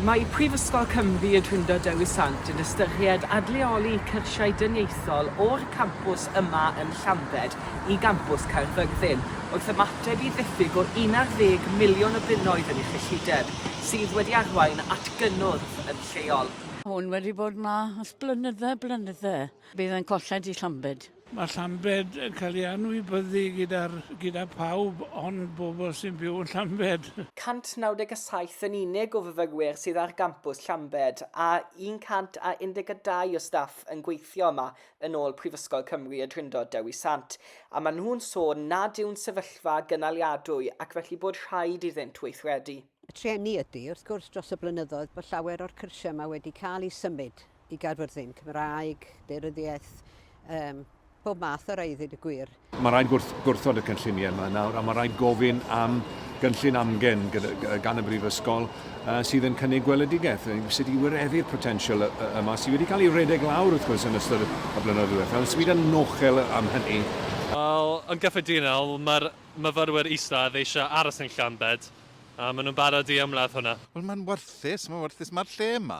Mae Prifysgol Cymru y Drindod Dewi Sant yn ystyried adleoli cyrsiau dyniaethol o'r campws yma yn Llambed i gampws Caerfyrddin, wrth ymateb i ddiffyg o 11 miliwn o bunnoedd yn ei chyllideb, sydd wedi arwain at gynnwrf yn lleol. Hwn wedi bod 'ma ers blynydde, blynydde. Bydd e'n colled i Llambed. Mae Llambed yn cael ei anwybyddu gyda'r gyda phawb ond bobl sy'n byw yn Llambed. 197 yn unig o fyfyrwyr sydd ar gampws Llambed a 112 o staff yn gweithio yma yn ôl Prifysgol Cymru y Drindod Dewi Sant a maen nhw'n sôn nad yw'n sefyllfa gynaliadwy ac felly bod rhaid iddynt weithredu. Y trueni ydy, wrth gwrs, dros y blynyddoedd bod llawer o'r cyrsiau yma wedi cael eu symud i Gaerfyrddin, Cymraeg, Daearyddiaeth, um, pob math o rai i ddweud y gwir. Mae rhaid gwrth, gwrthod y cynlluniau yma nawr, a mae rhaid gofyn am gynllun amgen gan y Brifysgol uh, sydd yn cynnig gweledigaeth, sydd wedi wireddu'r potensial yma, sydd wedi cael ei redeg lawr wrth gwrs yn ystod y blynyddoedd diwethaf, sydd yn nochel am hynny. Wel, yn gyffredinol, mae'r myfyrwyr isaf eisiau aros yn Llanbed, A maen nhw'n barod i ymladd hwnna. Wel mae'n warthus, mae'n warthus. Mae'r lle yma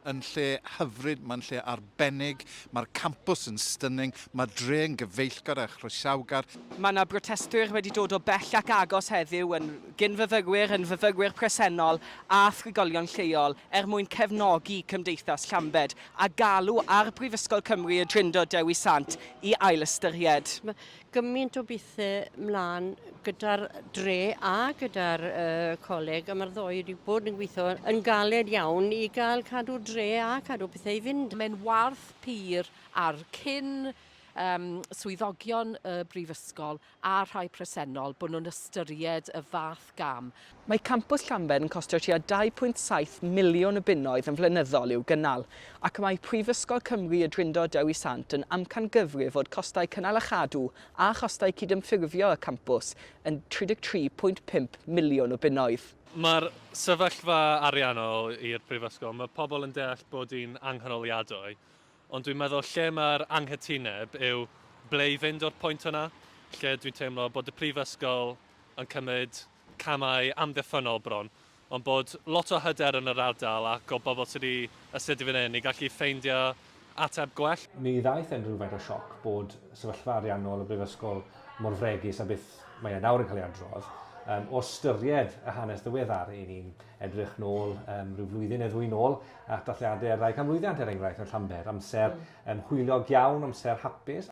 yn lle hyfryd, mae'n lle arbennig, mae'r campws yn stunning, mae'r dre yn gyfeillgar a chroesawgar. Mae yna brotestwyr wedi dod o bell ac agos heddiw yn gyn-fyfyrwyr, yn fyfyrwyr presennol a thrigolion lleol er mwyn cefnogi Cymdeithas Llambed a galw ar Brifysgol Cymru y Drindod Dewi Sant i ailystyried gymaint o bethau mlaen gyda'r dre a gyda'r uh, coleg a mae'r ddoi wedi bod yn gweithio yn galed iawn i gael cadw dre a cadw pethau i fynd. Mae'n warth pur ar cyn um, swyddogion y brifysgol a rhai presennol bod nhw'n ystyried y fath gam. Mae Campws Llanber yn costio tua 2.7 miliwn o bunnoedd yn flynyddol i'w gynnal, ac mae Prifysgol Cymru Y Drindod Dewi Sant yn amcangyfrif fod costau cynnal a chadw a chostau cydymffurfio y campws yn 33.5 miliwn o bunnoedd. Mae'r sefyllfa ariannol i'r Brifysgol, mae pobl yn deall bod hi'n anghynaliadwy, Ond dwi'n meddwl lle mae'r anghytuneb yw ble i fynd o'r pwynt yna, lle dwi'n teimlo bod y Prifysgol yn cymryd camau amddiffynnol bron, ond bod lot o hyder yn yr ardal ac o bobl sydd wedi astudio fan hyn i gallu ffeindio ateb gwell. Mi ddaeth e'n rhywfaint o sioc bod sefyllfa ariannol y Brifysgol mor fregus â beth mae e nawr yn cael ei adrodd, o ystyried y hanes ddiweddar. Ry'n ni'n edrych nôl rhyw flwyddyn neu ddwy'n ôl at dathliadau ar ddau can mlwyddiant er enghraifft yn Llanber, amser um, hwyliog iawn, amser hapus.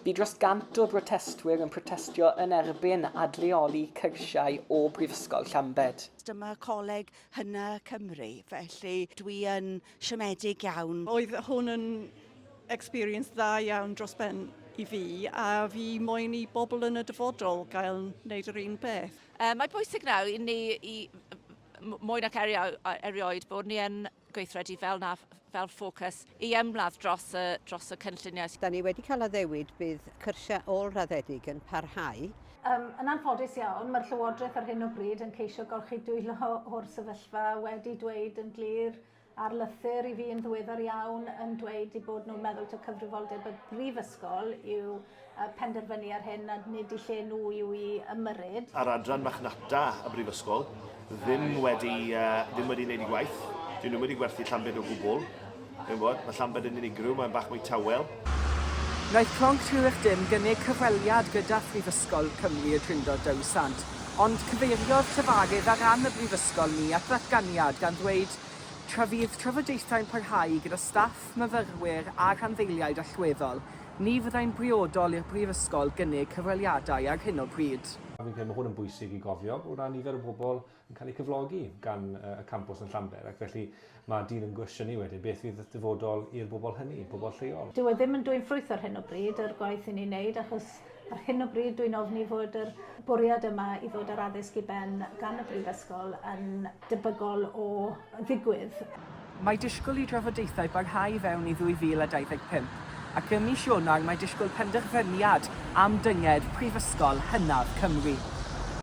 Bu dros gant o brotestwyr yn protestio yn erbyn adleoli cyrsiau o Brifysgol Llambed. Dyma Coleg Hynna Cymru, felly dwi yn siomedig iawn. Oedd hwn yn experience dda iawn dros ben i fi a fi moyn i bobl yn y dyfodol gael wneud yr un peth. Um, mae bwysig nawr i ni i mwy nac erioed bod ni yn gweithredu fel na fel ffocws i ymladd dros y, dros y cynlluniau. Da ni wedi cael addewid bydd cyrsiau ôl-raddedig yn parhau. Yym, yn anffodus iawn, mae'r Llywodraeth ar hyn o bryd yn ceisio gorchudwylo o'r sefyllfa, wedi dweud yn glir ar lythyr i fi yn ddiweddar iawn yn dweud eu bod nhw'n meddwl taw cyfrifoldeb y brifysgol yw yy penderfynu ar hyn a nid i lle nhw yw i ymyrryd. A'r adran marchnata y brifysgol ddim wedi uh, ddim wedi wneud ei gwaith. Dyn nhw wedi gwerthu Llambed o gwbl. Dwi'n bod, mae Llambed yn unigryw, mae'n bach mwy tawel. Wnaeth Clonc Rhiw'ych Dim gynnig cyfweliad gyda Phrifysgol Cymru Y Drindod Dewi Sant, ond cyfeiriodd llefarydd ar ran y Brifysgol ni at ddatganiad gan ddweud tra fydd trafodaethau'n parhau gyda staff, myfyrwyr a rhanddeiliaid allweddol, ni fyddai'n briodol i'r Brifysgol gynnig cyfweliadau ar hyn o bryd. Fi'n credu mae hwn yn bwysig i gofio o ran nifer y bobl yn cael eu cyflogi gan y campws yn Llanber ac felly mae dyn yn gwestiynu wedyn beth fydd y dyfodol i'r bobl hynny, bobl lleol. Dyw e ddim yn dwyn ffrwyth ar hyn o bryd, yr gwaith i ni'n wneud, achos ar hyn o bryd dwi'n ofni fod yr bwriad yma i ddod â'r addysg i ben gan y Brifysgol yn debygol o ddigwydd. Mae disgwyl i drafodaethau barhau i fewn i 2025, ac ym mis Ionawr mae disgwyl penderfyniad am dynged Prifysgol hynaf Cymru.